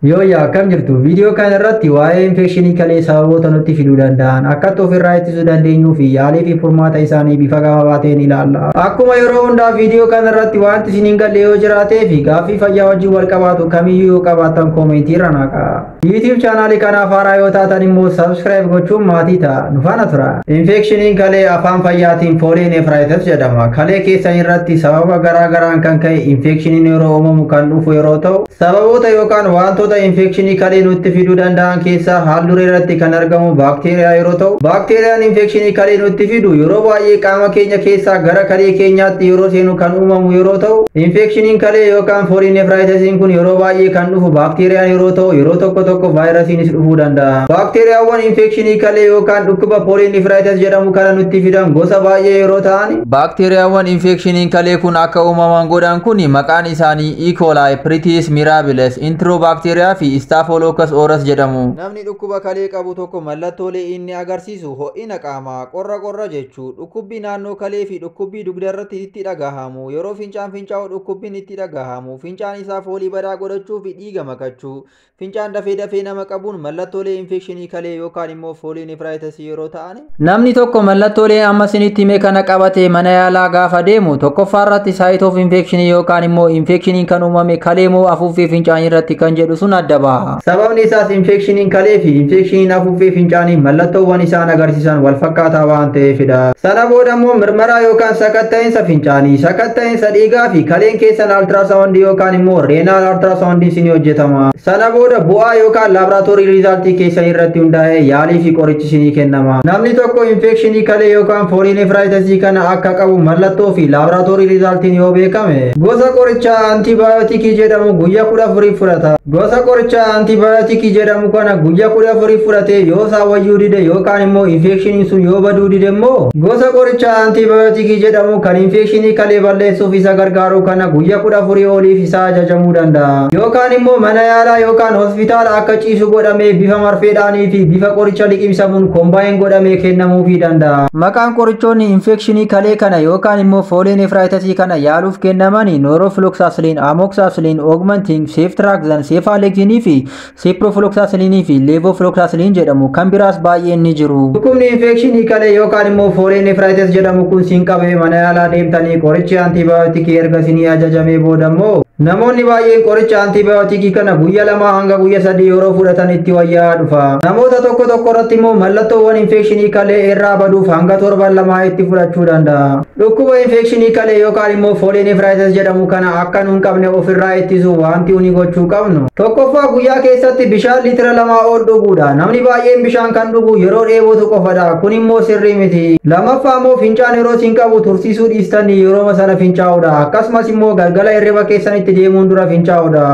Yooyyaa akkam jirtu viidiyoo kana irratti waa'ee infekshinii kalee sababoota nutti fiduu danda'an akkatti ofirraa ittisuu dandeenyuu fi yaalii fi furmaata isaanii bifa gabaabaa ta'een ilaalla. Akkuma yeroo hundaa viidiyoo kana irratti wanti isin hin galle yoo jiraatee fi gaaffii fayyaa wajjin wal qabaatu kamiyyuu yoo qabaattan koomentii irra naqaa. YouTube chaanaalii kanaaf haaraa yoo taatan immoo subscribe gochuun maatii ta'a nu faana tura. Infekshiniin kalee afaan fayyaatiin foolii neefraayitas jedhama. Kalee keessan irratti sababa garaa garaan kan ka'e infekshiniin yeroo uumamu kan dhufu yeroo ta'u Sababoota yookaan waantoota infeekshinii kalee nutti fiduu danda'an keessaa haal-duree irratti kan argamu baakteeriyaa yeroo ta'u, baakteeriyaan infeekshinii kalee nutti fidu yeroo baay'ee qaama keenya keessaa gara kalee keenyaatti yeroo seenu kan uumamu yeroo ta'u, infeekshiniin kalee yookaan pooliinefiraayitasiin kun yeroo baay'ee kan dhufu baakteeriyaan yeroo ta'u yeroo tokko tokko vaayirasiinis dhufuu danda'a. Baakteeriyaawwan infeekshinii kalee yookaan dhukkuba pooliinefiraayitas jedhamu kana nutti fidan gosa baay'ee yeroo ta'an, baakteeriyaawwan infeekshiniin kalee kun akka uumaman godhan kun maqaan isaanii. Iikoolaay, Piritiis Miiraabiles, Intiroobakteeriyaa fi Istaafolookkas Ooras jedhamu. Namni dhukkuba kalee qabu tokko mallattoolee inni agarsiisu ho'ina qaamaa, qorra qorra jechuu, dhukkubbii naannoo kalee fi dhukkubbii dugdarratti itti dhagahamu, yeroo fincaan fincaa'u dhukkubbin itti dhagahamu, fincaan isaa foolii badaa godhachuu fi dhiiga makachuu, Fincaan dafee dafee nama qabuun mallattoolee infekshinii kalee yookaan immoo foolii nefiraayitasii yeroo ta'an. Namni tokko mallattoolee amma isinitti hime kana qabatee mana yaalaa gaafa deemu tokkoffaa irratti saayit of infekshinii yookaan immoo infekshiniin kan uumame kalee moo afuuffee fincaanii irratti kan jedhu sun adda baha. Sababni isaas infekshiniin kalee fi infekshiniin afuuffee fincaanii mallattoowwan isaan agarsiisan wal fakkaataa waan ta'eefidha. Sana booda immoo mirmaraa yookaan sakatta'insa fincaanii sakatta'insa keessa dhiigaa fi kaleen keessan altiraasaawundii yookaan immoo reenaal altiraasaawundii isin hojjetama. Sana booda bu'aa yookaan laaboraatoorii riizaaltii keessan irratti hundaa'ee yaalii fi qorichi isinii kennama. Namni tokko infeekshinii kalee yookaan foolii nefiraayitasii kana akka qabu mallattoo fi laaboraatoorii riizaaltiin yoo beekame gosa qorichaa antibaayootikii jedhamu guyyaa kudha afuriif fudhata. Gosa qorichaa antibaayootikii jedhamu kana guyyaa kudha afuriif fudhatee yoo isaa wayyuu dide yookaan immoo infeekshiniin sun yoo baduu dide immoo Gosa qorichaa antiibiyootikii jedhamu kan infekshinii kalee balleessuuf isa gargaaru kana guyyaa kudha afurii oliif isaa ajajamuu danda'a. Yookaan immoo mana yaalaa yookaan hospitaala akka ciisu godhamee bifa marfeedhaanii fi bifa qoricha liqimsamuun kombaayin godhamee kennamuufii danda'a. Maqaan qorichoonni infekshinii kalee kana yookaan immoo foolee nefraayitasii kana yaaluuf kennamani noorofiloksaasiliin, amoksaasiliin, oogmantiing, seeftiraaksaan, seefaaleksinii fi Siiprofilooksaasilin fi leevofilooksaasilin jedhamu kan biraas baay'een ni jiru. Dhukkubni infeekshinii kalee yookaan immoo foolee nefraayitis jedhamu kun siin qabee mana yaalaa deemtanii qorichi antiibaayotikii erga isinii ajajamee booda immoo namoonni baay'een qoricha antiibaayotikii kana guyya lamaa hanga guyya sadii yeroo fudhatan itti wayyaa'aa dhufa. Namoota tokko tokko irratti immoo mallattoowwan infeekshinii kalee irraa baduuf hanga torban lamaa itti fudhachuu danda'a. Dhukkuba infeekshinii kalee yookaan immoo fooliinifiraayitis jedhamu kana akka nu hin qabne ofirraa ittisu wanti uni gochuu qabnu. Tokkoffaa guyyaa keessatti bishaan liitira lamaa ol dhuguudha. Namni baay'een bishaan kan dhugu yeroo dheebotu qofadha. Kun immoo sirrii miti. Lammaffaa immoo fincaan yeroo isin qabu tursiisuu dhiistanii yerooma sana fincaa'uudha. Akkasumas immoo galgala hirriba keessanitti deemuun dura fincaa'uudha.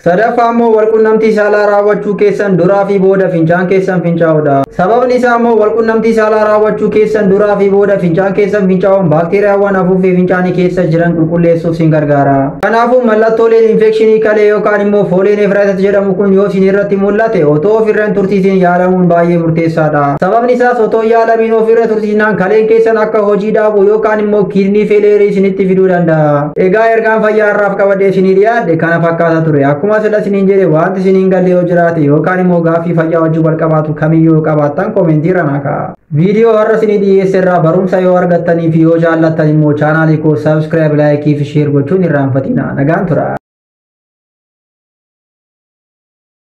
Sadaffaa immoo walqunnamtii saalaa raawwachuu keessan duraa fi booda fincaan keessan fincaa'udha. Sababni isaa immoo walqunnamtii saalaa raawwachuu keessan duraa fi booda fincaan keessan fincaa'uun baakteeriyaawwan afuuffee fincaanii keessa jiran qulqulleessuuf sin gargaara. Kanaafuu mallattooleen infekshinii kalee yookaan immoo foolee neefraayitas jedhamu kun yoo isin irratti mul'ate otoo ofirra hin tursiisin yaalamuun baay'ee murteessaadha. Sababni isaas otoo yaalamiin ofirra tursiisnaan kaleen keessan akka hojii dhaabu yookaan immoo kiidnii feeleerii isinitti fiduu danda'a. Egaa ergaan fayyaa har'aaf qabadee isinii dhiyaadhe kana fakkaata ture. Akkuma sila isiniin jedhe wanti isiniin galle yoo jiraate yookaan immoo gaaffii fayyaa wajjin wal qabaatu kamiyyuu yoo qabaattan koomentii irra naa kaa'a. Viidiyoo har'a isinii dhiyeesse irraa barumsa yoo argattanii fi yoo jaallattan immoo chaanaalii koo saabskiraayib laayikii fi sheer gochuun irraanfatina. Nagaan tura.